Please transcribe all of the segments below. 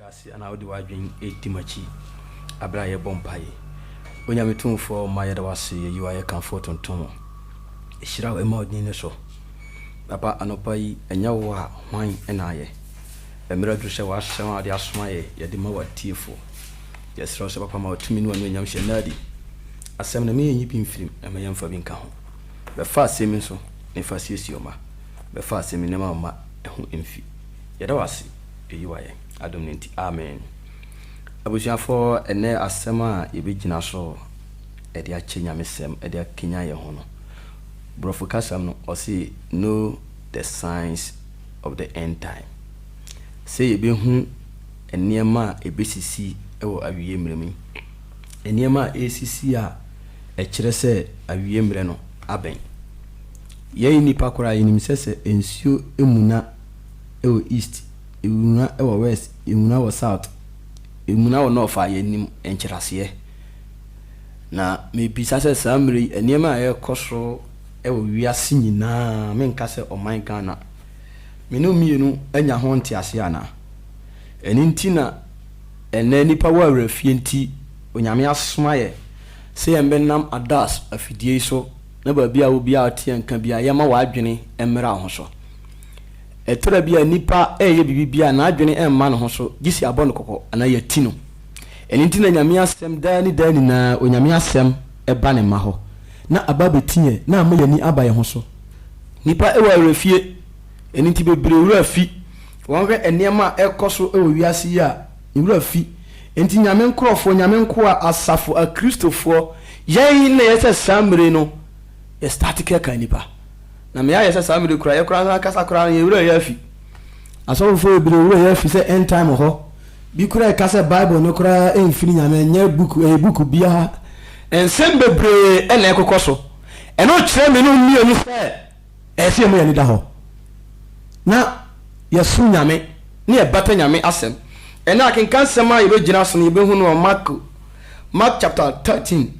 Tra ase na wode w'adwene di m'akyi berɛ a yɛbɔ mpaeɛ. Onyame Tumfoɔ mma yɛda wo ase yɛ yi a yɛ kamfo tontom wo. Hyira wo mma wo din no so. Papa anɔpa yi ɛnyɛ wo a hwan na ayɛ? Mmerɛ aduru sɛ w'asɛm a wode asoma yɛ yɛde ma w'atiefoɔ. Yɛsrɛ wo sɛ papa ma wo tumi ne w'anuonyam hyɛ nna adi. Asɛm no ma yɛnyi bi mfirim na ma yɛmfa bi nka ho. Bɛfa asɛm yi nso na fa siesie wo mma. Bɛfa asɛm yi na ma wo mma ho mfi. Yɛda wo ase. Eyi wayɛ adom no nti amen. Abusuafoɔ ɛnnɛ asɛm a yɛbɛgyina so de akyɛ Nyamesɛm de akanyan yɛn ho no, Borɔfo kasam no ɔse Know the Signs of the End Time. Sɛ yɛbɛhu nneɛma a ɛbɛsisi wɔ awieɛ mmerɛ mu yi, nneɛma a ɛresisi a ɛkyerɛ sɛ awieɛ mmerɛ no abɛn. Yɛn nnipa koraa yɛnim sɛ sɛ nsuo mmuna, wɔ East, Ewuna wɔ West, Ewuna wɔ South, Ewuna wɔ North a yɛnnim nkyerɛaseɛ. Na mebisa sɛ saa mmerɛ yi nneɛma a ɛrekɔ so wɔ wiase nyinaa, menka sɛ ɔman Ghana, me ne wo mmienu anya ho nteaseɛ anaa? Ɛno nti na ɛnnɛ nnipa wɔ awerɛfie nti Onyame asoma yɛ sɛ yɛmbɛnam ADAS afidie yi so na baabi a obiara te yɛnka biara yɛmma w'adwene mmra wo ho so. Ɛtɔ da bi a nipa reyɛ biribi bi a n'adwene mma ne ho so gye sɛ yɛabɔ no kɔkɔ anaa yɛati no. Ɛno nti na Nyame asɛm daa ne daa nyinaa Onyame asɛm ba ne mma hɔ na aba abɛti yɛn na ama yɛn ani aba yɛn ho so. Nipa wɔ awerɛfie, ɛno nti bebree wura fi. Wɔhwɛ nneɛma a ɛrekɔ so wɔ wiase yi a, wura fi. Enti Nyame nkorɔfoɔ, Nyame nkoa, asafo, akristofoɔ, yɛn na yɛsɛ saa mmere yi no yɛ start kɛkaa nipa. Na me ara yɛ sɛ saa mede koraa yɛ koraa san kasa koraa no yɛ werɛ yɛ afi. Asɔfofo bebree werɛ yɛ afi sɛ end time wɔ hɔ. Bi koraa ɛka sɛ bible no koraa ɛnfiri nyame ɛnyɛ book ɛyɛ book bi ara. Nsɛm bebree na ɛkokɔ so. Ɛno kyerɛ me nom mmienu sɛ ɛyɛ sɛ yɛma yɛn ani da hɔ na yɛsom nyame na yɛbata nyame asɛm. Ɛnɛ akenkan sɛm a yɛbɛgyina so no yɛbɛhu no wɔ marko mark chapter thirteen.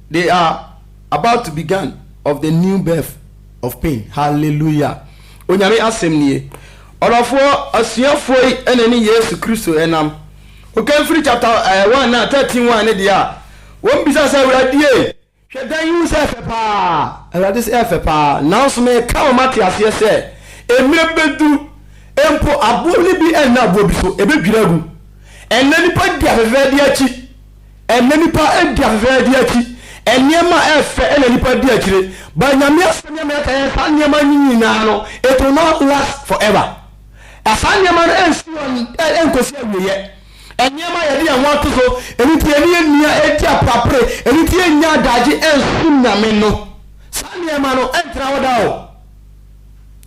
They are about to begun of the new birth of pain hallelujah Onyame asɛm nie ɔdɔfoɔ asuafoɔ yi na ɛne Yesu Kristo nam Okanfiri chapter ɛɛ one na thirteen one ne deɛ a wɔn bisa sɛ Awuradie hwɛ dan yi hu sɛ ɛfɛ paa Awurade sɛ ɛfɛ paa nanso meka ma moate aseɛ sɛ mmerɛ bɛduru mpo aboɔ no bi nna aboɔ bi so ɛbɛdwiri agu ɛnnɛ nipa di afɛfɛɛdeɛ akyi Ɛnnɛ nnipa di afeferɛ de akyi nneɛma a ɛyɛ fɛ na nnipa di akyire but Nyame asɛm yɛ mmerɛ ka yɛn saa nneɛma yi nyinaa no it will not last forever saa nneɛma no ɛnsi hɔ ɛnkɔsi awieɛ nneɛma yɛde yɛn ho ato so ɛno nti yɛne yɛnni a ɛdi aprapre ɛno nti yɛnnya adagye ɛnsom Nyame no saa nneɛma no ɛntena hɔ da o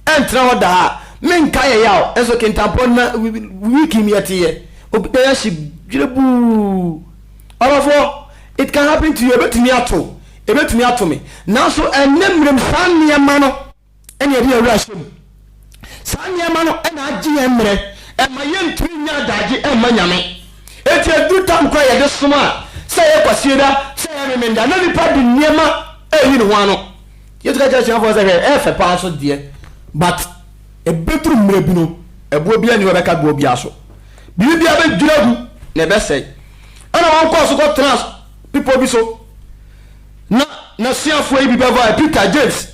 ɛntena hɔ daa menka yɛ yaw nso kentampɔ na wikim yɛte yɛ obi na yɛahye dwerebuu ɔrɔfo it can happen to you ebetumi ato ebetumi ato me nanso ɛnyɛ mmerɛm saa nneɛma no ɛna ɛde awura hyɛ mu saa nneɛma no ɛna agye yɛn mmerɛ ɛma yɛntumi nya adagye ɛma nyame eti edu tam kora yɛde som a sɛ yɛ kwasieda sɛ yɛ memenda na nipa de nneɛma ɛyi ne ho ano Yesu ka kyerɛɛ asuafoɔ no sɛ, Hwɛ, ɛyɛ fɛ paa so deɛ, but ɛbɛduru mmerɛ bi no, ɛboɔ biara nni hɔ a ɛbɛka boɔ biara so. Biribi biara bɛdwiri agu na ɛbɛsɛe. Ɛnna wɔkɔɔ so kɔtenaa bepɔ bi so, na n'asuafoɔ yi bi bɛvae, Peter, James,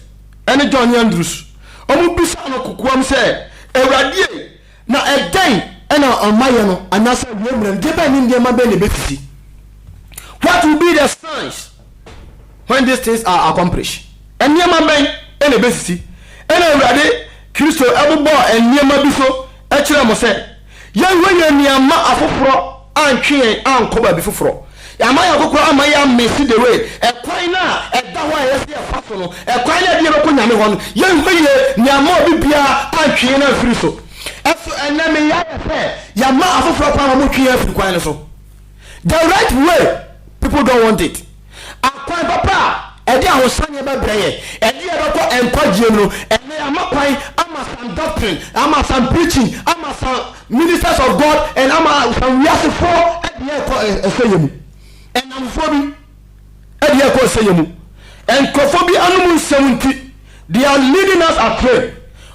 ne John ne Andrews. Wɔbisaa no kokoam sɛ, Awurade ei, na ɛdɛn na ɔmayɛ no, anaasɛ awiei mmerɛ no, gyebɛn ne nneɛma bɛn na ɛbɛsisi? What will be the signs? When these things are accomplished, nneɛma bɛn na ebesisi? Ɛnna Awurade Kristo bobɔɔ nneɛma bi so kyerɛɛ mo sɛ yɛnhwɛ yɛn ani amma afoforɔ antwe yɛn ankɔ baabi foforɔ. Yɛamma yɛn akokora amma yɛammese the way, ɛkwan no a ɛda hɔ a ɛyɛ sɛ yɛfa so no, ɛkwan no a ɛde yɛn bɛkɔ Nyame hɔ no. Yɛnhwɛ yie na yɛamma obi biara antwe yɛn amfiri so. So ɛnnɛ me yɛ ayɛ sɛ yɛama afoforɔ kwan ma wɔtwe yɛn afiri kwan no so? the right way people don't want it akwan papa a ɛde ahosanneɛ bɛbrɛ yɛn ɛde yɛn bɛkɔ nkwagyeɛ mu no ɛnɛ ama kwan ama some doctrine ama some preaching ama some ministers of God and ama some wiasefoɔ ɛde yɛn kɔ ɛsɛ yɛn mu ɛnamfoɔ bi ɛde yɛn kɔ ɛsɛ yɛn mu nkurɔfoɔ bi anom nsɛm nti they are leading us astray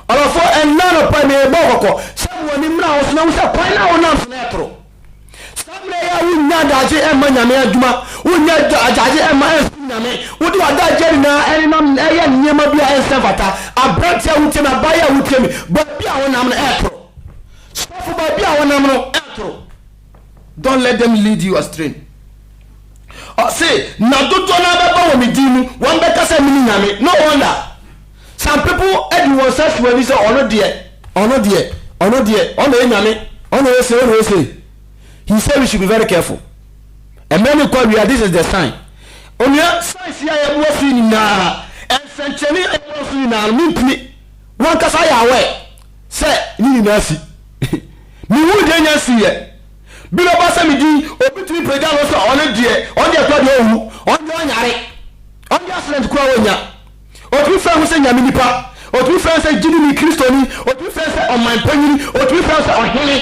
ɔlɔfoɔ ɛnna nɔpa ɛmɛ yɛbɔ kɔkɔ sɛ wɔn ani mmra ho so na wosɛ kwan na wɔnam so na ɛtoro Saa mmerɛ yi a wonnya adagye mma Nyame adwuma, wonnya adagye mma ɛnsom Nyame, wode w'adagyeɛ nyinaa nenam ɛyɛ nneɛma bi a ɛnsɛ mfata, aberanteɛ a wotie me, abaayewa a wotie me, baabi a wonam no ɛɛtoro. Sɔfo baabi a wonam no ɛɛtoro. Don't let them lead you astray. Ɔse, na dodoɔ no ara bɛba wɔ me din mu, wɔn bɛka sɛ mene Nyame. No wonder. Some people adi wɔn nsa si wɔn ani sɛ ɔno deɛ, ɔno deɛ, ɔno deɛ, ɔno na ɛyɛ nyame, ɔno na ɛyɛ sei, ɔno na ɛyɛ sei. He said we should be very careful. Mmerɛ no kɔ awia, this is the sign. Onua, science a yɛboa so nyinaa, nsɛnkyerɛnne a yɛboa so nyinaa no, mentumi. Wankasa ayɛ aware sɛ ne nyinaa si. Mehu deɛ nya nsiiɛ. Bi na ɔba sɛ me din, obi tumi pagya no sɛ ɔno deɛ, ɔno deɛ kora deɛ ɔwu, ɔno deɛ ɔnyare, ɔno deɛ accident kora ɔnya. Otumi frɛ ho sɛ Nyame nipa, otumi frɛ ho sɛ gyidini Kristoni, otumi frɛ ho sɛ ɔman panyini, otumi frɛ ho sɛ ɔhene.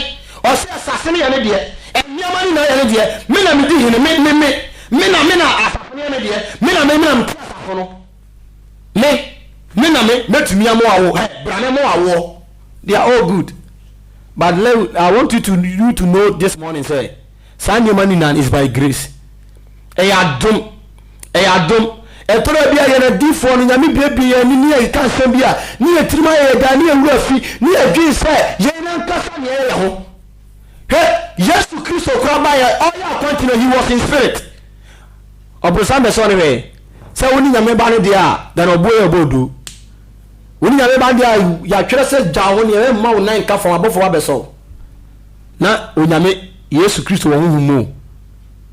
Ɔse asase no yɛ ne deɛ, nneɛma no nyinaa yɛ ne deɛ, me na medi hene, me, me, me, me na, me na asafo no yɛ me deɛ, me na me, me na mete asafo no, me, me na me, mɛtumi amoa wo, hɛ, bra me moa woɔ. They are all good. But let, I want you to, you to know this morning sɛ, Saa nneɛma no nyinaa no, it's by grace. Ɛyɛ adom. Ɛyɛ adom. Ɛtɔ da bi a yɛn adiyifoɔ no, Nyame buebue yɛn ani ne yɛ ka asɛm bi a, ne yɛn tirim ayɛ yɛn den, ne yɛn werɛ afi, ne yɛdwen sɛ yɛn ankasa na yɛyɛ yɛn ho. Hwɛ, Yesu Kristo koraa baeɛ, ɔreyɛ akwanti no, he was in spirit. Ɔbronsam bɛsɔɔ no hwɛɛ. Sɛ wone Nyame ba no deɛ a, then ɔboɔ yɛ ɔbɔ odoo. Wone Nyame ba no deɛ a, yɛatwerɛ sɛ gya wo ho nea, mma wo nan nka fam, abɔfoɔ ba bɛsɔ wo. na Onyame, Yesu Kristo wɔ honhom mu o.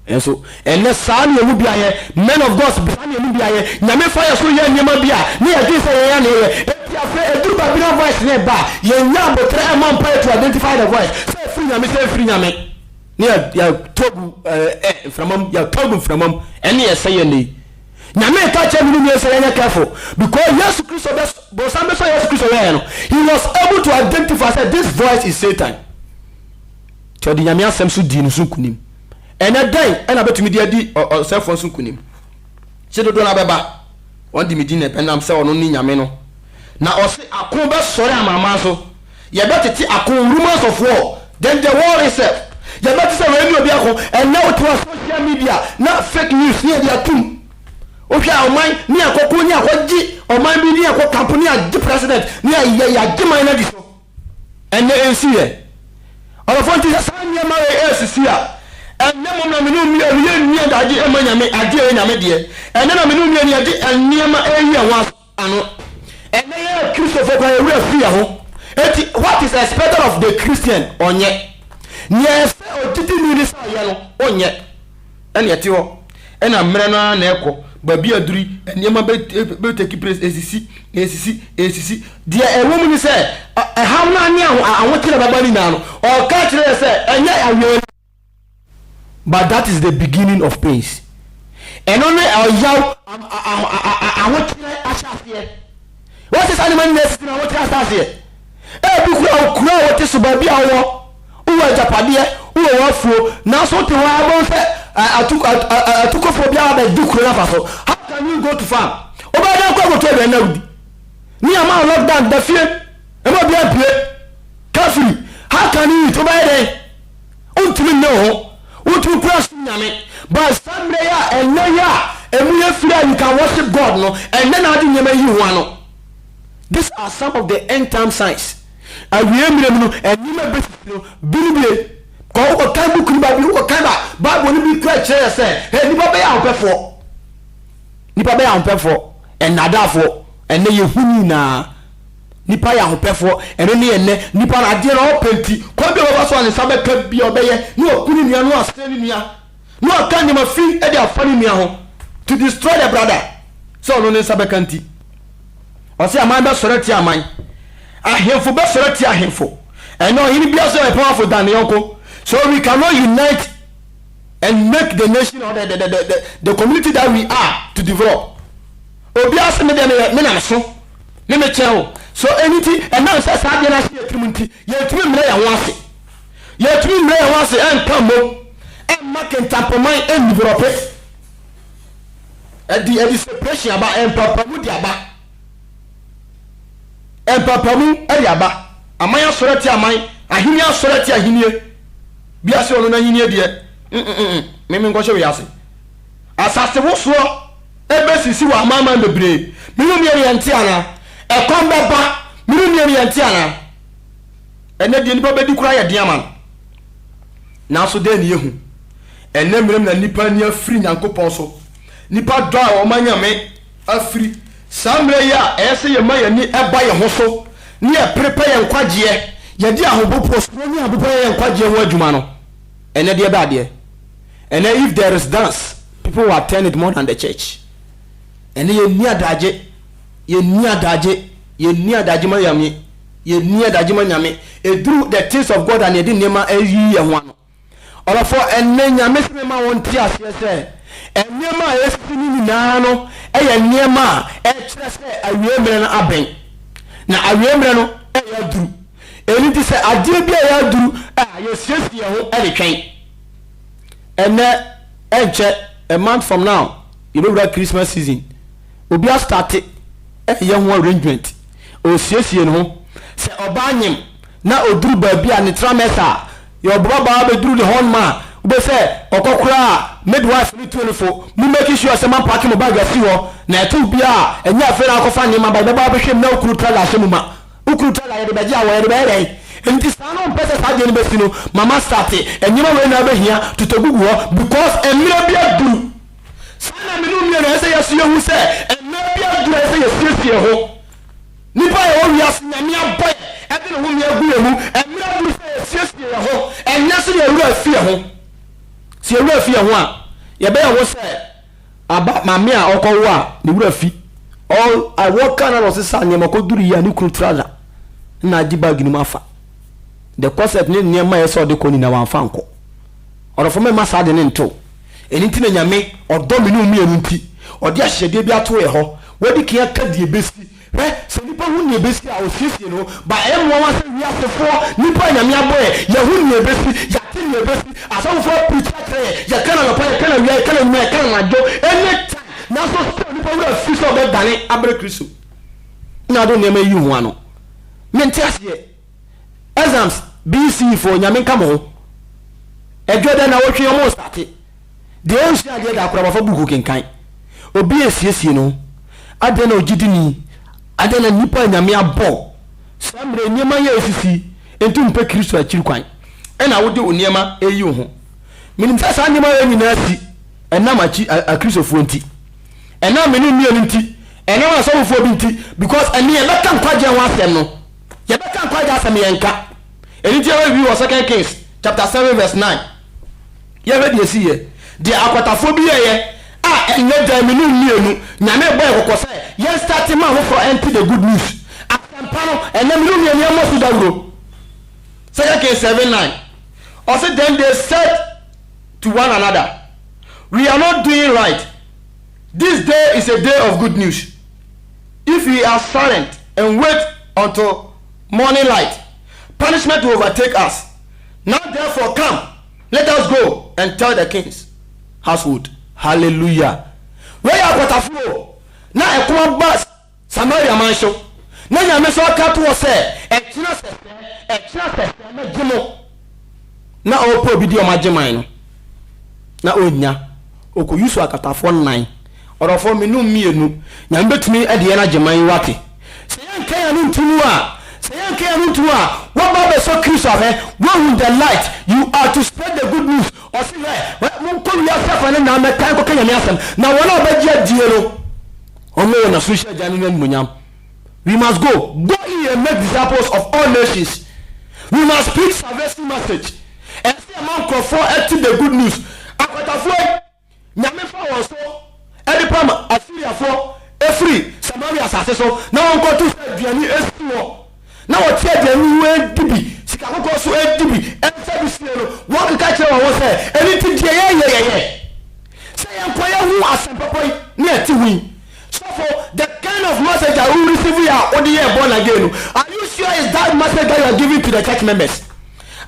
Nanso, ɛnnɛ saa ne ɛmu biayɛ, men of God, saa ne ɛmu biayɛ, Nyame fa yɛ so yɛ nneɛma bi a, na yɛdwen sɛ yɛn yɛn na yɛyɛ, enti afei ɛduru baabi na voice no ɛba a, yɛnnya aboterɛ ɛmmɔ mpaeɛ to identify the voice, sɛ ɛfiri Nyame sɛ ɛmfiri Nyame, na yɛatɔ agu mframa mu, yɛatɔ agu mframa mu, ɛne ɛsɛeɛ ɛnnɛ yi. Nyame reka kyerɛ me ne Mary sɛ yɛnyɛ careful because Yesu Kristo bɛ bonsam bɛ sɛ Yesu Kristo yɛɛ no he was able to identify sɛ this voice is Satan nti ɔde Nyame asɛm so dii no so nkunim ɛnɛ dɛn ɛna bɛtumi de adi ɔsɛfoɔ nso nkunim kye dodoɔ no abɛba wɔn de me din na ɛbɛnam sɛ ɔno ne Nyame no na ɔse ako bɛsɔre amanaman so Yɛbɛtete ako rumors of war then the war itself yɛbɛte sɛ wei ne obi ako ɛnɛ wote wa social media na fake news ne yɛde atum wohwɛ a ɔman ne akɔko ne akɔgye ɔman bi ne akɔ kampo ne agye president ne ayɛ yɛagye man no adi so ɛnɛ ɛnsi yɛ ɔdɔfoɔ nti sɛ saa nneɛma wei ɛsisi a ɛnɛ mom na mene mmea no yɛnni adagye ɛma nyame agye ɛyɛ nyame deɛ ɛnɛ na mene mmea no yɛde nneɛma ɛyi ɛho aso ano. Ɛnnɛ yɛn Kristofo koraa yɛn werɛ fi yɛn ho. Enti, what is expected of the Christian? Ɔnyɛ. Nea ɛsɛ ogyidini ne sɛ ɔyɛ no, ɔnyɛ. Ɛnna ɛte hɔ. Ɛnna mmerɛ no ara na ɛkɔ. Baabi aduru yi, nneɛma bɛ bɛ take place, esisi, esisi, esisi. Deɛ ɛwɔ mu ne sɛ, ɔhaw no ara ne ahokyere a ɛbɛba no nyinaa no, ɔreka akyerɛ yɛn sɛ ɛnyɛ awiei no. But that is the beginning of pains. Ɛno ne ɔyaw ahokyerɛ ahyɛaseɛ. Wɔte saa nneɛma nyinaa sisi na ahokyerɛ ahyɛaseɛ. Ebi kura wo kura a wɔte so baabi a wɔwɔ, wowɔ agyapadeɛ, wowɔ w'afuo, nanso wote hɔ ara bɛhu sɛ atukofoɔ biara bɛgye kuro no afa so. How can you go to farm? Wobɛyɛ dɛn kɔ akotu aduane na wodi? Ne ama wo lockdown da fie, ɛma obiara mpue, kafiri, how can you eat? Wobɛyɛ dɛn? Wontumi nne wo ho, wontumi kura som Nyame. But saa mmerɛ yi a ɛnnɛ yi a ɛmu yɛ firi a you can worship God no, ɛnnɛ na ade nneɛma yi ho ano. These are some of the end time signs. Awieɛ mmerɛ mu no, nneɛma a ɛbɛsisi no, bi ne wei. Kɔ wokɔ kan book no baabi, wokɔ kan ba, Bible no bi kura kyerɛ yɛ sɛ, hɛ, nnipa bɛyɛ ahopɛfoɔ. Nnipa bɛyɛ ahopɛfoɔ, nnaadaafoɔ. Ɛnnɛ yɛhu ne nyinaa. Nnipa yɛ ahopɛfoɔ, ɛno ne ɛnnɛ nnipa no adeɛ na ɔpɛ nti, kwan bi a ɔbɛfa so a ne nsa bɛka biara ɔbɛyɛ, na waku ne nua, na wasɛe ne nua, na waka nneɛma fi de afa ne nua ho, to destroy the brother, sɛ ɔno ne nsa bɛka nti. Ɔse aman bɛsɔre atia aman, ahemfo bɛsɔre atia ahemfo, ɛnɛ ɔhene biara sɛ ɔyɛ powerful than ne yɔnko, so we cannot unite and make the nation or the, the, the, the, the community that we are to develop. Obiara se me deɛ meyɛ me na meso ne me kyɛn o. So ɛno nti ɛnam sɛ saa adeɛ no ahyɛ yɛn tirim nti yɛntumi mmrɛ yɛn ho ase? Yɛntumi mmrɛ yɛn ho ase nka mmom mma kentampaman nni borɔpe. Ɛde ɛde separation aba, mpampamu de aba. Mpampamu de aba. Aman asɔre atia aman, ahenni asɔre atia ahenni. Bi ase ɔno n'ahenni deɛ, mm mm mm, me menkɔhyɛ wei ase. Asase wosoɔ Ɛbɛsisi wɔ amanaman bebree. Me ne nea nea nte anaa? Ɛkɔm bɛba. Me ne nea nea nte anaa? Ɛnnɛ deɛ nnipa bɛdi koraa yɛ den ama no. Nanso dɛn na yɛhu? Ɛnnɛ mmerɛ mu na nnipa ani afiri Nyankopɔn so. Nnipa dɔ a wɔma Nyame afiri. Saa mmerɛ yi a ɛyɛ sɛ yɛma yɛn ani ba yɛn ho so na yɛpere pɛ yɛn nkwagyeɛ, yɛde ahopopoɔ, suro ne ahopopoɔ yɛ yɛn nkwagyeɛ ho adwuma no, ɛnnɛ deɛ ɛbɛ adeɛ. Ɛnɛ if there is dance people will attend it more than the church ɛnɛ yɛnni adagye yɛnni adagye yɛnni adagye ma Nyame yɛnni adagye ma Nyame ɛduru the things of God a na yɛde nneɛma ayiyi yɛn ho ano ɔlɔfo ɛnɛ Nyame sɛ mema wɔn te aseɛ sɛ nneɛma a ɛsisi no nyinaa no ɛyɛ nneɛma a ɛkyerɛ sɛ awie mmerɛ no abɛn na awie mmerɛ no ɛyɛ aduru ɛni ti sɛ adeɛ bi a ɛyɛ aduru a yɛsiesie yɛn ho ɛde twɛn Ɛnnɛ ɛnkyɛ a month from now yɛbɛwura Christmas season. Obi astate ɛyɛ ho arrangement, ɔresiesie ne ho. Sɛ ɔbaa nyem na ɔduru baabi a ne tra mɛsa a, yɛwɔ bababaa bɛduru ne hɔnom a, wobɛhu sɛ ɔkɔ koraa a midwife no tuo no fo, mo make sure sɛ moampake mo bag asi hɔ, na ɛte obiara a, ɛnyɛ afei na akɔfa nneɛma aba, yɛbɛba abɛhwɛ mu na wo kunu tra de ahyɛ mu ma. Wokunu tɔ na yɛde bɛgye awɔ yɛde bɛyɛ dɛn? Enti saa no wompɛ sɛ saa deɛ no bɛsi no ma ma starte nneɛma wei na wobɛhia totɔ gugu hɔ because mmerɛ bi aduru saa na mene wo mmienu ɛsɛ yɛ so yɛhu sɛ mmerɛ bi aduru a ɛsɛ sɛ yɛsiesie yɛ ho nnipa a yɛwɔ wiase Nyame abɔ yɛ ɛde ne homee agu yɛ mu mmerɛ aduru sɛ yɛsiesie yɛ ho ɛnyɛ sɛ yɛwura fi yɛ ho sɛ yɛwura fi yɛ ho a yɛbɛyɛ ho sɛ Aba maame a ɔkɔwo a ne wura fi ɔwɔ Ghana na ɔsesa nneɛma kɔduru yi a ne kunu trouser na agye bag no mu afa. The corset ne nneɛma a ɛsɛ ɔde kɔ nyinaa wamfa nkɔ. Ɔdɔfo mɛma saa ade no ntew. Ɛno nti na Nyame ɔdɔ me ne wo mmienu nti ɔde ahyehyɛdeɛ bi ato yɛ hɔ. Wadi kan aka deɛ ɛbɛsi. Hwɛ, sɛ nipa hu nea ebesi a, osiesie ne ho, but ɛyɛ nwanwa sɛ wiasefoɔ, nnipa a Nyame abɔ yɛn, yɛhu nea ebesi, yɛate nea ebesi, asɔfofoɔ apreachi akyerɛ yɛn, yɛka no anɔpa, yɛka no awia, yɛka no anwuma, yɛka no anadwo, any time, nanso still nnipa werɛ afiri sɛ wɔbɛdane abrɛ Kristo. Nna ado nneɛma yi yi ho ano? Mente aseɛ. Exams BC foɔ nyame nka mo ho Ɛdwo dɛ na wotwe ɔmo starte Deɛ ɔnsua adeɛ da koraa wafa book kenkan Obi ɛsiesie ne ho Adɛn na ogyidini Adɛn na nipa a nyame abɔ Saa mmerɛ yi nneɛma yɛ ɛsisi Nti wompɛ Kristo akyiri kwan Ɛna wode wo nneɛma ɛyi wo ho Menim sɛ saa nneɛma wei nyinaa si Ɛnam akyi akristofoɔ nti Ɛnam mene mmienu nti Ɛnam asɔfofoɔ bi nti Because ɛneɛ bɛka nkwagyeɛ ho asɛm no Yɛbɛka nkwagye asɛm yɛnka. Ɛno nti yɛwɔ review wɔ Second Kings chapter seven verse nine. Yɛnhwɛ deɛ ɛsiiɛ. Deɛ akwatafoɔ bi yɛeɛ a ɛnyɛ dɛn me nom mmienu Nyame bɔɔ yɛn kɔkɔ sɛ yɛn starte ma afoforɔ ɛnte the good news, asɛmpa no, ɛnnɛ me nom mmienu yɛmmɔ so dawuro. Second Kings seven nine ɔse then they said to one another we are not doing right this day is a day of good news. If we are silent and wait until morning light, punishment will overtake us. Now therefore come, let us go and tell the king's household. Hallelujah! Wei yɛ akwatafo o, na ɛko aba Samaria man so, na Nyame nso aka ato hɔ sɛ, Ɛkyena sɛsɛɛ, ɛkyena sɛsɛɛ, mɛgye mo. na ɔɔpɛ obi di ɔmo agyeman no na onnya, ɔkɔ use akatafoɔ nnan. Ɔdɔfoɔ me ne wo mmienu Nyame bɛtumi de yɛn agyeman yi wate. Sɛ yɛnka yɛn ano nto mu a, sɛ yɛnka yɛn ano nto mu a, woaba abɛsɔ Kristo ahwɛ, woahu the light, you are to spread the good news. Ɔse hwɛ, hwɛ, monkɔ wiase afa ne nyinaa mmɛka, nkɔka Nyame asɛm, na wɔn a wɔbɛgye adie no, wɔn wɔ N'asoronhyira Agya no n'animuonyam. We must go, go ye and make disciples of all nations. We must preach salvation message. Ɛsɛ sɛ yɛma nkurɔfoɔ ɛte the good news. Akwatafoɔ yi, Nyame fa wɔn so ɛde pam Asiriafoɔ ɛfiri Samaria asase so na wɔnkɔto sɛ aduane ɛsi hɔ na wɔte aduane no ho ɛdi bi, sika kɔkɔɔ so ɛdi bi, ɛmfa bi sie no. Wɔkeka kyerɛ wɔn ho sɛ, Ɛno nti deɛ yɛyɛ yɛyɛ sɛ yɛnkɔ yɛho asɛmpɔpɔ yi na yɛte ho yi. Sɔfo the kind of message a wo receive yɛ a wode yɛɛ born again no are you sure is that message that you are giving to the church members?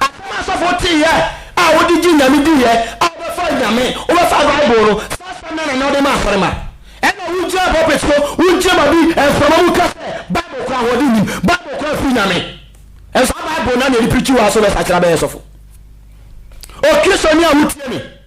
Asɛm a sɔfo tee yɛ a wode gye Nyame di yɛ a wobɛfa Nyame wobɛfa bible no saa asɛm no ara na wode ma asɔre ma ɛna wo gyina pulpit so wo gyina babi mframa mu ka sɛ bible kora ahoɔden nim bible kora firi Nyame ɛnso saa bible no na yɛde prikyi wɔ ha so bɛsakyera bɛyɛ sɔfo o Kristoni a wotie me.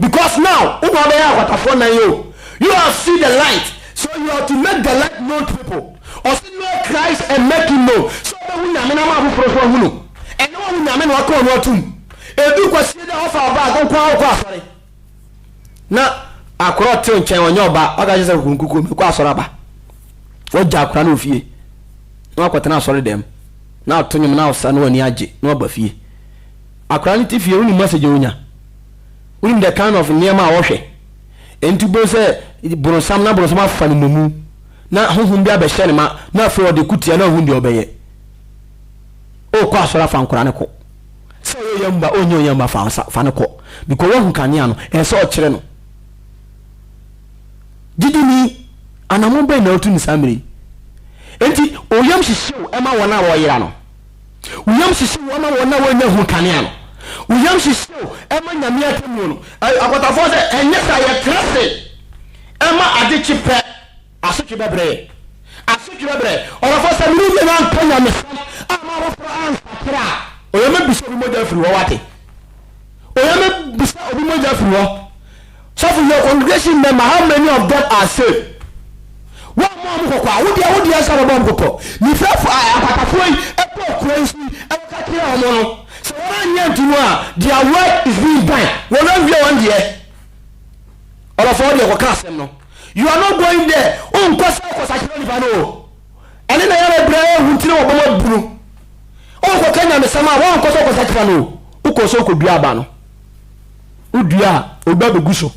because now wo ba bɛyɛ akwatafoɔ nan o you have see the light so you have to make the light known to people ɔse know Christ and make him known sɛ ɔbɛhu nyame na ma afoforɔ so ahu no ɛnɛ wahu nyame na waka ɔno atum ɛdu kwasie dɛ ɔfa ɔbag nko a ɔkɔ asɔre na akorɔ te nkyɛn ɔnyɛ ɔba ɔka kyɛ sɛ kukunkuku mekɔ asɔre aba wɔgya akora no ofie na wakɔtena asɔre dɛm na ato nwom na ɔsa na wani agye na waba fie akora no te fie woni message ɔnya Wonim the kind of nneɛma a wɔhwɛ. Enti wobɛhu sɛ boronsam na boronsam afa no nnomu na honhom bi abɛhyɛ ne ma na afei ɔde ko tia na ɔhu deɛ ɔbɛyɛ. Okɔ asɔre afa nkora no kɔ. Sɛ ɔyɛ ɔyamba ɔnyɛ ɔyamba fa nsa fa no kɔ. Because wahu kanea no ɛyɛ sɛ ɔkyerɛ no. Gyidini anamon bɛn na wotu no saa mmerɛ yi? Enti oyam hyehyew ɛma wɔn a wɔyera no. Wo yam hyehye wo ama wɔn a wɔnnya hu kanea no? Wo yam hyehye wo ɛma Nyame atemmuo no? Akwatafoɔ sɛ, Ɛnyɛ saa, yɛtra ase ɛma ade kye pɛ asotwe bɛbrɛ yɛn. Asotwe bɛbrɛ yɛn. Ɔdɔfoɔ sɛ, Mene yɛn anka Nyamesɛm a mahoforɔ ansakra a, ɔyɛ mɛbisa obi mogya afiri hɔ, wate? Onyame bisa obi mogya firi hɔ. Sɔfo yɛ congregation member how many of them are saved? Wo a mo a mo kɔkɔ a wo deɛ wo deɛ nsa bɛbɔ ɔmo kɔkɔ. Ne firafo a akwatafoɔ yi ɛkɔɔ kuro yi so yi ɛka kyerɛ ɔmo no sɛ wɔn anyɛ nto mu a their work is being done wɔn awie wɔn deɛ. Ɔlɔfɔɔ deɛ kɔka asɛm no you are not going there wonkɔ sɛ kɔ sakyera nipa no o ɛne na yɛrɛ brɛ ɛhu nti na wɔbɔ mo abunu. Ɔnkɔka nyamesɛm a woankɔ sɛ wokɔsakyera no o, wokɔɔ sɛ wokɔdua aba no. Wodua a, obi ba bɛgu so.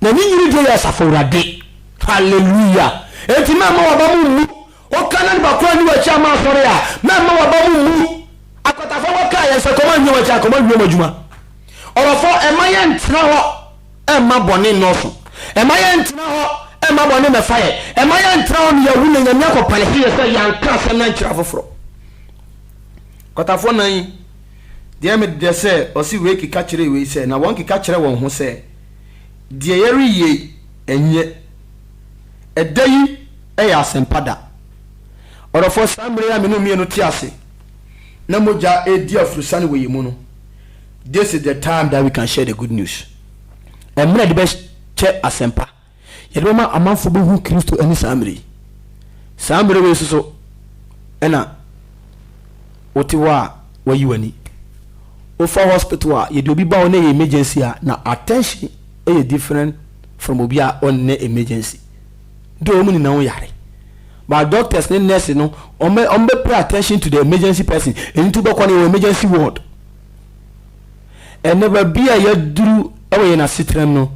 Na ne nyini deɛ yɛ Asafo Awurade. Hallelujah! Enti mɛmma w'aba mu mmu. Woka na nipa koro anni w'akyi amma asɔre a, mɛmma w'aba mu mmu. Akwatafoɔ bɛka a, yɛn sɛ kɔm anwia wɔn akyi a, kɔm anwia wɔn adwuma. Ɔrɔfoɔ, mma yɛntena hɔ. mma bɔne nnɔɔso. Mma yɛnntena hɔ mma bɔne mmɛfa yɛn. Mma yɛntra hɔ na yɛawu na Nyame akɔ panish yɛn sɛ yɛanka asɛm no ankyerɛ afoforɔ. Kwatafoɔ nan yi deɛ me dedɛ sɛ ɔse wei keka kyerɛɛ wei sɛ na wɔn keka kyerɛ wɔn ho sɛ deɛ yɛreyɛ yi ɛnyɛ ɛda yi yɛ asɛmpa da. Ɔdɔfoɔ saa mmerɛ yi a me ne wo mmienu te ase na mogya redi afurusane wɔ yɛn mu no, This is the time that we can share the good news. Ɛmmerɛ yɛde bɛkyɛ asɛmpa. Yɛde bɛma amanfo bɛhu Kristo ɛne saa mmerɛ yi. Saa mmerɛ wei soso ɛna wote hɔ a wayi w'ani. Wofa hospital a yɛde obi ba wo na ɛyɛ emergency a na attention ɛyɛ different from obi a ɔnnɛ emergency. dɛ wɔn nyina ho yare but doctors ne nurse no wɔn bɛ wɔn bɛ pay attention to the emergency person ɛno nti wobɛkɔ no yɛwɔ emergency ward ɛnɛ baabi a yɛaduru wɔ yɛn asetram no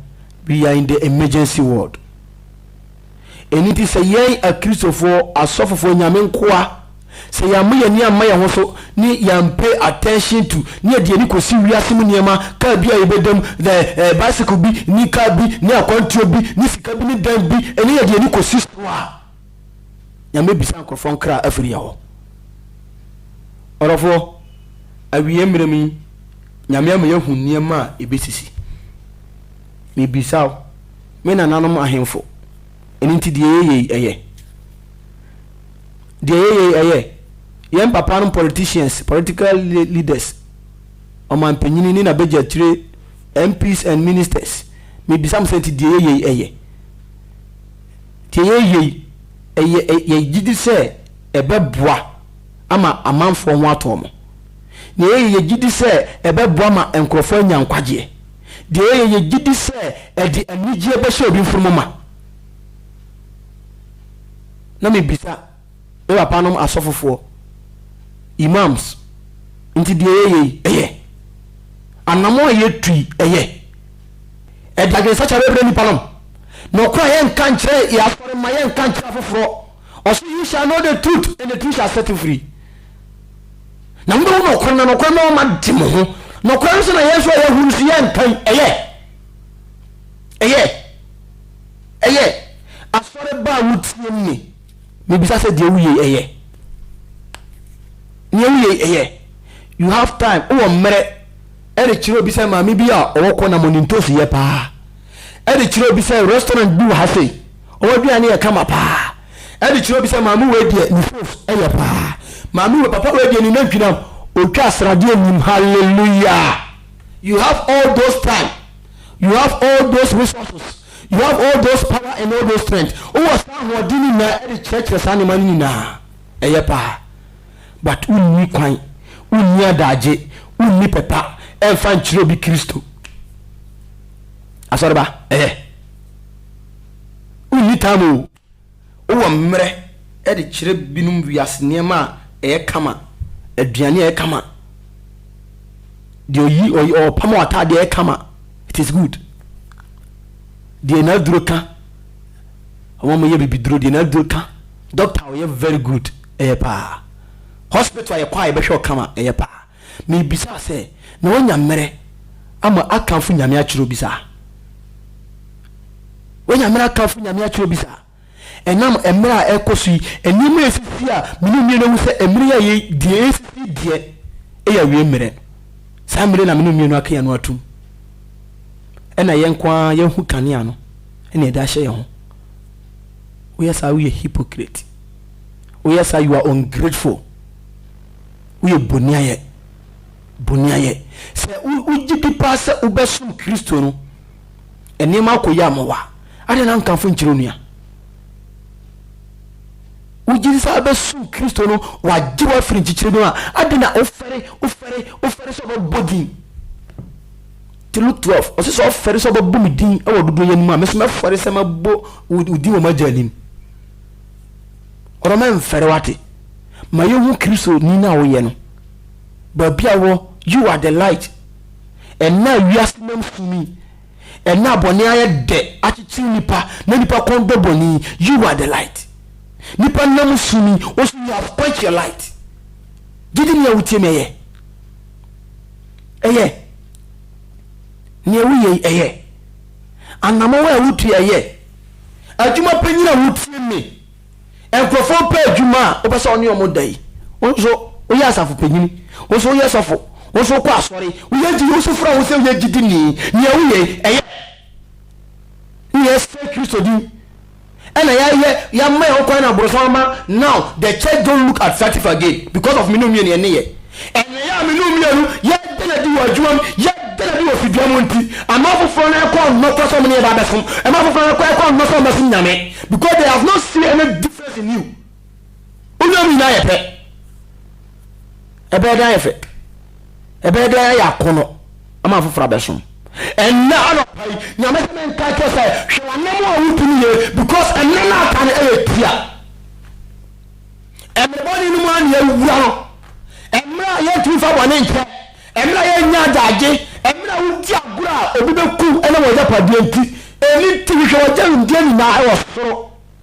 we are in the emergency ward ɛno nti sɛ yɛn akristofoɔ asɔfofoɔ nyame nkoa Sɛ yɛamma yɛn ani amma yɛn ho so ne yɛann pay attention to ne yɛde yɛn ani kɔsi wiase mu nneɛma, kaa bi a yɛbɛda mu, the eh, bicycle bi ne car bi ne akwantuo bi ne sika bi ne dan bi ne yɛde yɛn ani kɔsi so a, Nyame bisa nkorɔfoɔ nkra afiri yɛn hɔ. Ɔdɔfoɔ, awieɛ mmerɛ mu yi, Nyame ama yɛahu nneɛma a ɛbɛsisi. Mebisa wo, me nananom ahemfo, ɛno nti deɛ yɛyɛ yi, ɛyɛ? Deɛ yɛyɛi ɛyɛ yɛn papa nom politicians, political leaders, ɔmanpanyini ne nabɛgyakyire MPs and ministers. Mebisa mo sɛ nti deɛ yɛyɛi ɛyɛ? Deɛ yɛyɛi ɛyɛ yɛgyedi sɛ ɛbɛboa ama amanfoɔ ho atɔ mo? Deɛ yɛyɛ yɛgyedi sɛ ɛbɛboa ma nkorɔfoɔ anya nkwagyeɛ? Deɛ yɛyɛ yɛgyedi sɛ ɛde anigyeɛ bɛhyɛ obi mfunumu ma? na me bisa me papa nom asɔfofoɔ, Imams, nti deɛ yɛyɛ yi ɛyɛ? Anamɔn a yɛtu yi ɛyɛ? Ɛde adwensakyera bɛbrɛ nnipa nom? Nɔkorɛ a yɛnka nkyerɛ yɛn asɔre mma yɛnka nkyerɛ afoforɔ, ɔse you shall know the truth and the truth shall set you free. Na mobɛhu nɔkorɛ na nɔkorɛ ma ɔma de mo ho. Nɔkorɛ no sɛ na yɛn nso a yɛahu no so yɛnkan ɛyɛ? Ɛyɛ? Ɛyɛ afɔre ba a wotie no ni. Mebisa sɛ deɛ woyei ɛyɛ? Neɛ woyei ɛyɛ? You have time, wowɔ mmerɛ, ɛde kyerɛ obi sɛ maame bi a ɔwɔ kɔ nam ɔnim ntoosi yɛ paa. Ɛde kyerɛ obi sɛ restaurant bi wɔ ha sei, wɔn aduane yɛ kama paa. Ɛde kyerɛ obi sɛ maame wei deɛ ne phones ɛyɛ paa. Maame wei, papa wei deɛ ne nantwi nam ɔtwa sradeɛ nim. Hallelujah! You have all those time. You have all those resources, you have all those power and all those strength. Wowɔ saa ahoɔden no nyinaa de kyerɛkyerɛ saa nneɛma no nyinaa. Ɛyɛ paa. But wonni kwan, wonni adagye, wonni pɛpa ɛmfa nkyerɛ obi Kristo. Asɔreba, ɛyɛ. Wonni tam o. Wowɔ mmerɛ de kyerɛ binom wiase nneɛma a ɛyɛ kama, aduane a ɛyɛ kama, deɛ ɔyi ɔyi ɔpam ataadeɛ ɛyɛ kama, it is good. Deɛ n'aduro ka, wɔn a wɔyɛ bibiduro deɛ n'aduro ka, doctor ɔyɛ very good ɛyɛ paa. Hospital a yɛkɔ a yɛbɛhwɛ ɔkama ɛyɛ paa. Mibisaa sɛ, Na woanya mmerɛ ama akamfo Nyame akyerɛ obi saa? Woanya mmerɛ akamfo Nyame akyerɛ obi saa? Ɛnam mmerɛ a ɛrekɔ so yi, nneɛma a ɛsisi a me ne mmienu ahu sɛ mmerɛ yi a yɛ, deɛ ɛresisi deɛ ɛyɛ awie mmerɛ. Saa mmerɛ na me ne mmienu aka yɛn ano atom. Ɛna yɛn nko ara yɛahu kanea no ɛna yɛde ahyɛ yɛn ho. Woyɛ saa woyɛ hypocrite. Woyɛ saa you are ungrateful. Woyɛ boniayɛ, boniayɛ. Sɛ wogyedi paa sɛ wobɛsom Kristo no, nneɛma akɔ yie ama wo a, adɛn na wonkamfo nkyerɛ onua? Wogyedi sɛ wobɛsom Kristo no, wagye wo afiri nkyekyerɛ bi mu a, adɛn na wofɛre, wofɛre, wofɛre sɛ wobɛbɔ din? Nti Luke 12, ɔse sɛ ɔfɛre sɛ ɔbɛbɔ me din wɔ dodoyɛ no mu a, me nso mɛfɛre sɛ mɛbɔ wo din wɔ m'agya anim. Ɔdɔ ma ɛmfɛre wate. Ma yɛnhu Kristo ni no a woyɛ no baabi a wɔ You are the light Ɛnnɛ a wiase nam sum yi Ɛnnɛ a bɔne ayɛ dɛ akyekyere nnipa Na nnipa kɔn dɔ bɔne yi You are the light Nnipa nam sum yi O so you have quenched your light Gye di nea wotie me ɛyɛ Ɛyɛ Nea woyɛ yi ɛyɛ Anammɔn a ɛwo tua yɛ adwuma panyin a wotie me. Nkurɔfoɔ pɛ adwuma a wopɛ sɛ ɔne wɔn da yi. Wo nso woyɛ asafo panyin, wo nso woyɛ sɔfo, wo nso wokɔ asɔre, woyɛ gyi, wo nso fura wo sɛ woyɛ gyidini. Nea woyɛ yi, ɛyɛ? Woyɛ sɛ Kristo din. ɛna yɛayɛ yɛama yɛn ho kwan na aborosan ama now the church don't look attractive again because of me ne wo mmienu yɛn nneyɛɛ ɛneyɛɛ a me ne wo mmienu yɛda no adi wɔ adwuma mu yɛda no adi wɔ fidua mu nti ɛma afoforɔ no ɛkɔ nnɔ kora sɛ ɔmo ne yɛba abɛsom ɛma afoforɔ no ɛkɔ nnɔ sɛ ɔmo bɛsom Nyame because they have not seen any difference in you Wonyam nyinaa yɛ pɛ. Ɛbɛyɛ dɛ ayɛ fɛ. Ɛbɛyɛ dɛ ayɛ akɔnnɔ ama afoforɔ abɛsom. Ɛnnɛ anɔpa yi, Nyame se menka nkyerɛ sɛ, hwɛ w'anam a wodi no yie, because ɛnɛ na aka no yɛ tia. Ɛmmerɛ bɔne no mu ara na yɛawura no. Ɛmmerɛ a yɛntumi mfa bɔne nkyɛ. Ɛmmerɛ a yɛnnya adagye. Ɛmmerɛ a wodi agorɔ a obi bɛku wo ɛnam w'agyapadeɛ nti. Ɛno nti hwehwɛ w'agyamdeɛ nyinaa wɔ soro.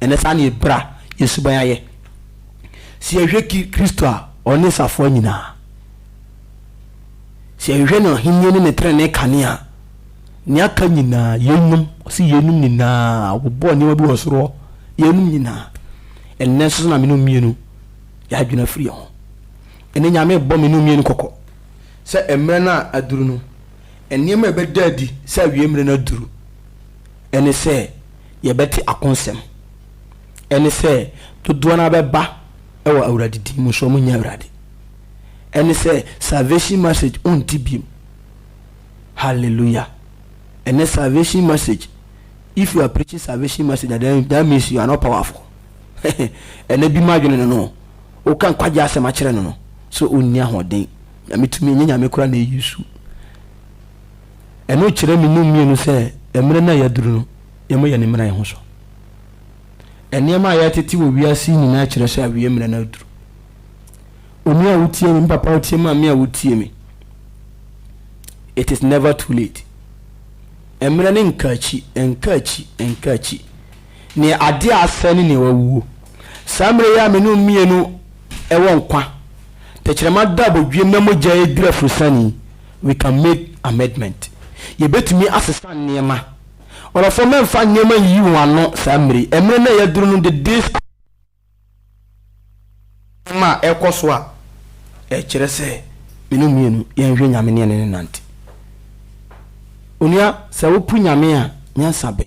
Ɛnɛ saa na yɛbra yɛn suban ayɛ. Sɛ yɛhwɛ Kristo a, ɔne safoa nyinaa. Sɛ yɛhwehwɛ n'ahennie ne ne trenee kane a, nea aka nyinaa, yeinom, ɔse yeinom nyinaa, wɔbɔɔ nneɛma bi wɔ soro hɔ, yeinom nyinaa. Ɛnɛ nso so na mene mmienu yɛadwene afiri yɛn ho. Ɛnɛ Nyame bɔ mene mmienu kɔkɔ sɛ mmerɛ no a aduru no, nneɛma a ɛbɛda adi sɛ awie mmerɛ no aduru, ɛne sɛ, yɛbɛte ako nsɛm, ɛne sɛ dodoɔ no ara bɛba wɔ Awurade din mu, nso wɔn nyɛ Awurade. Ɛne sɛ salvation message ɔnte biom. Hallelujah. Ɛnɛ salvation message, if you are preaching salvation message, then that means you are not powerful. Ɛnɛ bi ma adwene no no, woka nkwagye asɛm akyerɛ no no, so ɔnni ahoɔden. Nyame tumi, ɛnyɛ nyame kora na ɛyi su. Ɛno kyerɛ me mu mmienu sɛ mmerɛ no a yɛaduru no, yɛmmɔ yɛn mmaraeɛ ho so. Nneɛma a yɛtete wɔ wiase yi nyinaa kyerɛ sɛ awie mmerɛ no aduru. Onua a wotie me, me papa a wotie me, maame a wotie me, it is never too late. Mmerɛ no nka akyi, nka akyi, nka akyi. Neɛ adeɛ a asɛe ne neɛ wawuo. Saa mmerɛ yi a me ne wo mmienu wɔ nkwa, tɛkyerɛma da abodwiem na mogya adwiri afurusane yi, We can make amedment, Yɛbɛtumi asesa nneɛma. Ɔrɔfoɔ mɛmfa nneɛma nyiyi wɔn ano saa mmere yi. Ɛmere no a yɛaduru no de this a nneɛma a ɛrekɔ so a ɛkyerɛ sɛ me ne wo mmienu yɛnhwɛ Nyame ne yɛne no nnante. Onua, sɛ wopo Nyame a, nyansa bɛn?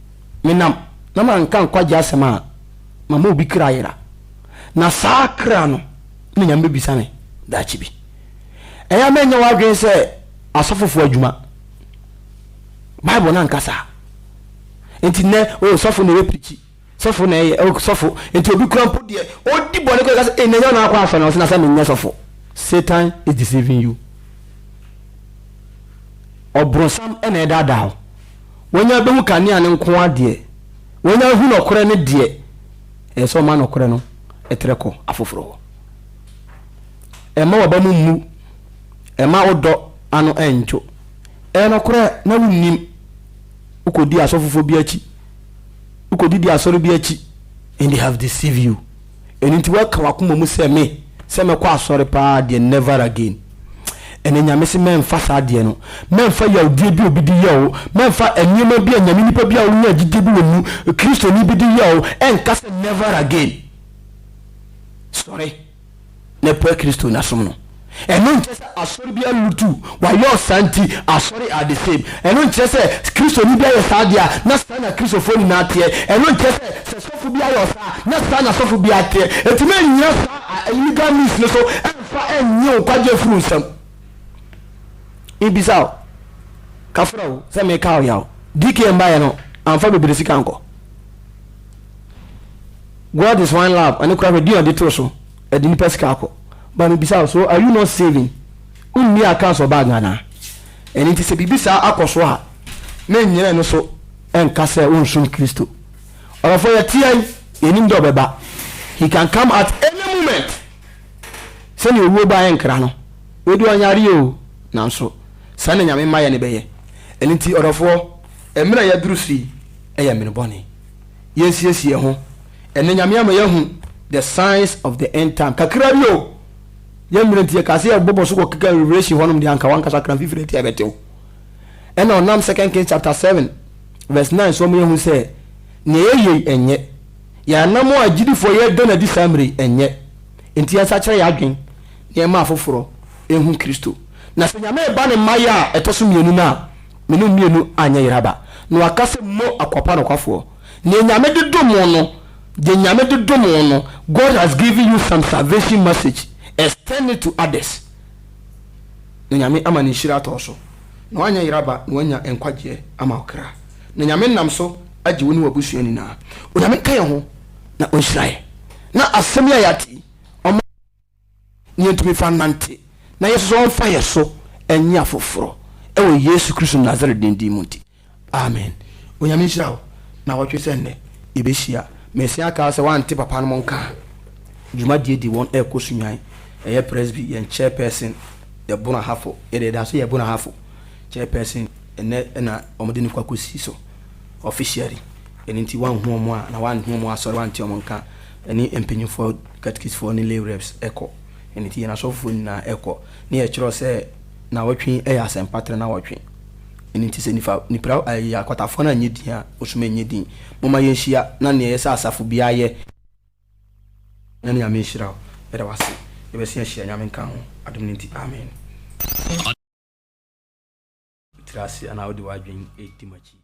menam na manka nkwagye asɛm a, mama obi kra yera, na saa kra no na Nyame bɛbisa me daakye bi. Ɛyɛ a mɛnyɛ w'adwene sɛ asɔfofo adwuma. Bible no anka saa. Nti nɛ, o sɔfo na ɛyɛ prikyi, sɔfo na ɛyɛ, o sɔfo, nti obi kura mpo deɛ, ɔdi bɔne kɔ, ɛka sɛ, ɛnɛ nyɛ na akɔ asɔre, na ɔsɛ na sɛ menyɛ sɔfo. Satan is deceiving you. Ɔbronsam na ɛdaadaa wo. Wɔanya abɛhu kanea no nko ara deɛ, wɔanya ahu nɔkorɛ no deɛ, ɛyɛ sɛ wɔma nɔkorɛ no trɛ kɔ afoforɔ hɔ. Ɛmma w'aba mu mmu, ɛmma wo dɔ ano nnwo. Ɛyɛ nɔkorɛ, na wonnim. Wokɔdii asɔfofoɔ bi akyi, wokɔdidii asɔre bi akyi, and they have deceived you. Ɛno nti waka wakoma mu sɛ me sɛ mɛkɔ asɔre paa deɛ never again ɛnɛ nyame se mɛnfa saa deɛ no mɛnfa yawdie bi obi de yɛ o mɛnfa nneɛma bi a nyame nipa bi a wonya gyidie bi wɔ mu kristoni bi de yɛ o ɛnka sɛ never again sɔre na ɛpɛ Kristo nasom no. Ɛno nkyerɛ sɛ asɔre biara lutu wayɛ ɔsaa nti asɔre are the same. Ɛno nkyerɛ sɛ Kristoni bi ayɛ saa deɛ a na saa na Kristofoɔ nyinaa teɛ. Ɛno nkyerɛ sɛ sɛ sɔfo bi ayɛ ɔsaa a na saa na sɔfo biara teɛ. Enti ma nnyina saa a illegal means no so mmfa nnye wo nkwagyeɛ mfiri wo nsam. Mebisa wo, kafra o, sɛ meka wo yaw, DKM baeɛ no amfa bebree sika ankɔ? God is one love, ɛno koraa hwɛ din a ɔde too so. Ɛde nipa sika akɔ. But me bisa wo so are you not saving? Wo nni accounts wɔ bag anaa? Ɛno nti sɛ biribi saa akɔ so a me nyina ɛno so nka sɛ wo nsom Kristo. Ɔdɔfoɔ yɛ teɛ yi yɛ nim dɛ ɔbɛba he can come at any moment sɛdeɛ owuo ba yɛ nkra no wei deɛ ɔnyareɛ oo nanso saa na Nyame ma yɛ ne bɛyɛ ɛno nti ɔdɔfoɔ mmerɛ yɛ duru so yi yɛ mmerɛ bɔne. yɛnsiesie ho. Ɛnnɛ Nyame ama yɛahu the signs of the end time kakra bi o. Yɛn mmerɛ nti yɛkaa sɛ yɛbɔbɔ so kɔ keka Revelation hɔnom deɛ anka wankasa kora mfifire nti ɛbɛtew. Ɛna ɔnam Second Kings chapter 7 verse 9 so ɔmo yɛhu sɛ nea yɛyɛ yi ɛnyɛ. Yɛn anammɔn a agyidifoɔ yɛda no adi saa mmerɛ yi ɛnyɛ. Enti yɛnsakyera yɛn adwen na yɛmma afoforɔ ɛhu Kristo. Na sɛ Nyame reba ne mmaeɛ a ɛtɔ so mmienu no a, Me no mmienu anyɛ yera ba. Na waka sɛ mo akwapa nokwafoɔ, neɛ Nyame de dom wo no, deɛ Nyame de dom wo no, God has given you some salvation message, extend it to others, na Nyame ama ne nhyira atɔ wo so, na woanyɛ yera ba, na woanya nkwagyeɛ ama wo kra, na Nyame nam so agye wo ne w'abusua nyinaa. Onyame nka yɛn ho na ɔnhyira yɛn na asɛm yi a yɛate yi ɔmma. na yɛntumi mfa nnante, na yɛn nso so ɔmfa yɛn so nnye afoforɔ wɔ Yesu Kristo Nasaret din din mu nti, amen. Onyame nhyira wo, nawɔtwe sɛ nnɛ yɛbɛhyia. Mesan aka wo sɛ woante papa nom nka a, dwumadie de wɔn ɛrekɔ so nyan. Ɛyɛ Presby, yɛn Chairperson yɛ Bono Ahafo, yɛde yɛda so yɛ Bono Ahafo Chairperson, ɛnnɛ na wɔde no kɔ akɔsi so officially, ɛno nti woanhu wɔn a, anaa woanhu wɔn asɔre, woante wɔn nka a, Ɛne mpanyinfoɔ, katikisfoɔ ne lay reps, kɔ. Ɛno nti yɛn asɔfofoɔ nyinaa kɔ. Ne yɛkyerɛw sɛ naawɔtwe yɛ asɛmpa tra naawɔtwe. Ɛno nti sɛ nifa, nipra, ɛɛ akwatafoɔ no anyɛ din a, ɔsom ɛnyɛ din. Momma yɛnhyia na nea ɛyɛ sɛ asafo biara yɛ. Na Nyame nhyira wo. Yɛda wo ase. Yɛbɛsan ahyia Nyame nka ho adom no nti. Amen. Tiri ase anaa wode w'adwene di m'akyi.